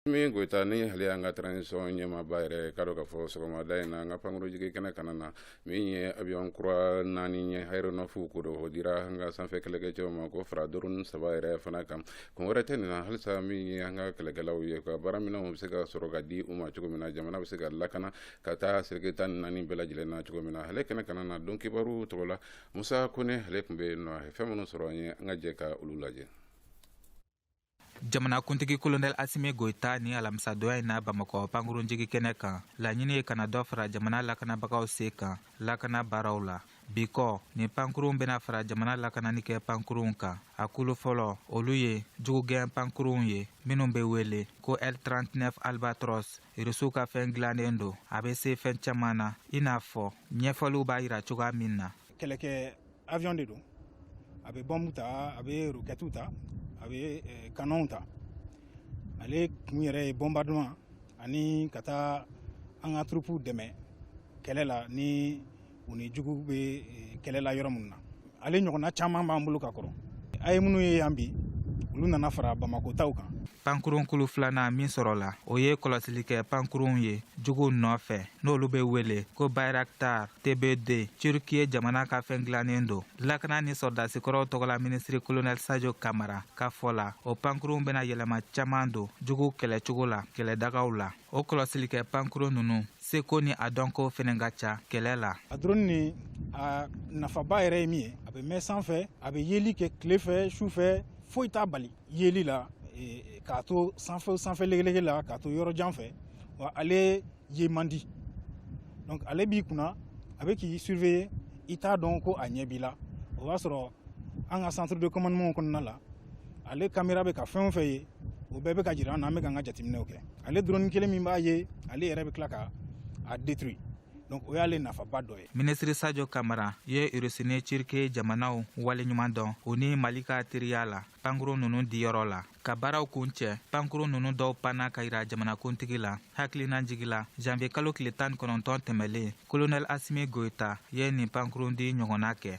mi goyita ni hali an ka transition ɲɛmaaba yɛrɛ ka dɔ ka fɔ sɔgɔmada in na an ka pankurun jigin kɛnɛ kan na min ye avion kura naani ɲɛ aéronef ko don o dira an ka sanfɛ kɛlɛkɛ cɛw ma k'o fara drone saba yɛrɛ fana kan kun wɛrɛ tɛ nin na halisa min ye an ka kɛlɛkɛlaw ye ka baara minɛnw bɛ se ka sɔrɔ ka di u ma cogo min na jamana bɛ se ka lakana ka taa seleke tan ni naani bɛɛ lajɛlen na cogo min na ale kɛnɛ kan na donkibaru tɔgɔ la musa kɔnɛ ale tun bɛ yen nɔ a ye fɛn minnu sɔrɔ an ye an ka jɛ ka olu lajɛ jamanakuntigi kolonɛl asimi goyita ni alamisa donya in na bamakɔ pankurunjigi kɛnɛ kan laɲini ye ka na dɔ fara jamana lakanabagaw se kan lakana baaraw la bi kɔ nin pankurunw bena fara jamana lakanani kɛ pankurunw kan a kulu fɔlɔ olu ye jugugɛn pankurunw ye minw be wele ko l 39 albatros urusiw ka fɛn dilannen don a bɛ se fɛn caman na i n'a fɔ ɲɛfɔliw b'a yira cogoya min na kɛlɛkɛ avion de don a bɛ bɔmu ta a bɛ rokɛtiw ta a bɛ eh, kanɔnw ta ale kun yɛrɛ ye bombardement ani ka taa an ka turupuw dɛmɛ kɛlɛ la ni u ni jugu bɛ eh, kɛlɛ la yɔrɔ minnu na ale ɲɔgɔnna caman b'an bolo ka kɔrɔ a ye minnu ye yan bi olu nana fara bamako taw kan pankurun kulu filanan min sɔrɔla o ye kɔlɔsili kɛ pankurunw ye juguw nɔfɛ n'olu bɛ wele ko bayraktar tb 2 turkiye jamana ka fɛn dilannen don lakana ni sɔrɔdasikɔrɔw tɔgɔla minisiri kolonɛl sajo kamara ka fɔ la o pankurunw bɛna yɛlɛma caman don juguw kɛlɛcogo la kɛlɛdagaw la o kɔlɔsilikɛ pankuru ninnu seko ni a dɔnko fɛnɛ ka ca kɛlɛ la a drone nin a nafaba yɛrɛ ye min ye a bɛ mɛn sanfɛ a bɛ yeli kɛ tile fɛ su fɛ foyi t'a bali yeli la e, k'a to sanfɛ sanfɛ legelege la k'a to yɔrɔ jan fɛ wa ale ye man di donc ale b'i kunna a bɛ k'i surveiller i t'a dɔn ko a ɲɛ b'i la o b'a sɔrɔ an ka centre de commandement kɔnɔna la ale kamera bɛ ka fɛn o fɛn ye o bɛɛ bɛ ka jira an na an bɛ ka an ka jateminɛw kɛ ale drone kelen min b'a ye ale yɛrɛ bɛ tila ka a détruit donc o y'ale nafaba dɔ ye minisiri sajo kamara ye urusi ni turki jamanaw waleɲuman dɔn u ni mali ka teriya la pankuru nunu diyɔrɔ la ka baaraw kuncɛ pankuru nunu dɔw panna ka yira jamanakuntigi la hakilinajigi la janviye kalo tile tan ni kɔnɔntɔn tɛmɛlen kolonɛl asimi goyita ye nin pankurun di ɲɔgɔnna kɛ